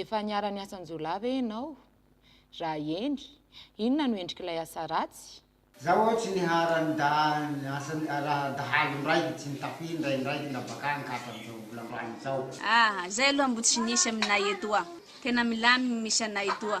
Efa niara-niasa an-jiolahy ve ianao? Raha eny, inona no endrik'ilay asa ratsy? Za ho'a tsy nihara ny da ny asan raha dahalo ndraiky tsy nitafy ndray ndraiky la bakagny ka hatramizao mbola androany zao. Ahh zay aloha mbo tsy nisy aminay etoa, tena milamigny misy anay toa.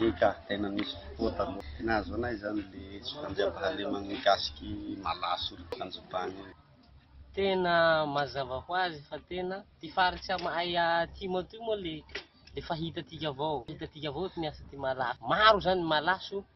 Eny ka, tena nisy fotoa taloha. Tena azo anay izany le tsy fandriampahalemana mikasiky malaso ry mpanjobany io. Tena mazava ho azy fa tena ty faritsy am ay atimo atoy moa le le fa hitatika avao hitatika avao ty miasa ty malaso maro zany malaso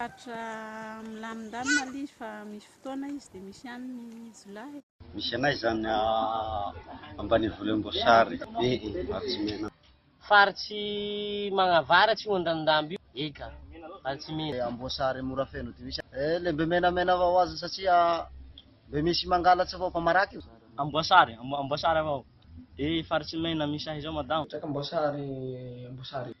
Faritra milamindamina ilay izy fa misy fotoana izy dia misy ihany ny jiolahy e. Misy anay izany ambanivohimboasary be e, Varitsimena. Faritry magnavaratra io andrano-dambo io, eka, Varitsimena. Amboasary mora feno dia misy e, ilay mbe menamena avao azony satria mbe misy mangalatsy avao fa marary io. Amboasary, Amboasary avao e, Faritsimena, misy ahy izao madama. Amboasary, Amboasary e.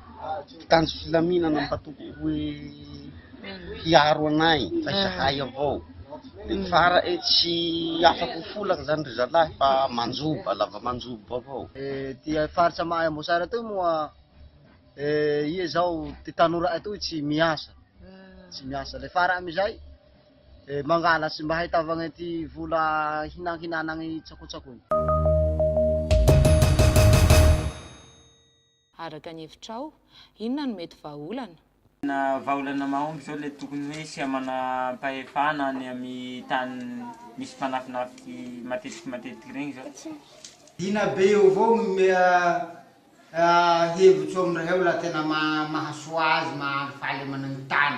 mpitandro filaminana mba tokony hoe hiaro anay fa izahay avao de fara e tsy afaka ho folaka zany ry zalahy fa manjoba lava manjoba avao ty faritra mahay amboasary atoy moa iha zao ty tanora atoy tsy miasa tsy miasa le fara amizay mangala tsy mba ahitavagna ty vola hinankinanagny tsakotsakony Araka ny hevitrao, inona no mety vahaolana? Tena vahaolana mahomby izao ilay tokony hoe hisy manam-pahefana any amin'ny tany misy fanafinafy matetiky matetiky ireny izao. Dina be eo avao no omea hevitro amin'ireo raha tena mahasoa azy mahafaly managny tany.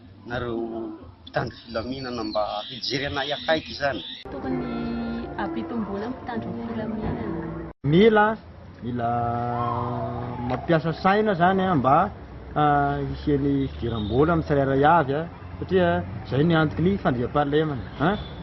Nareo mpitandro filaminana mba hijery anay akaiky zany. Tokony ampitomboina ny mpitandro ny filaminana. Mila mila mampiasa saina zany a mba hisian'ny fidiram-bola amin'ny tsirairay avy a satria zay ny antoky ny fandriampahalemana a.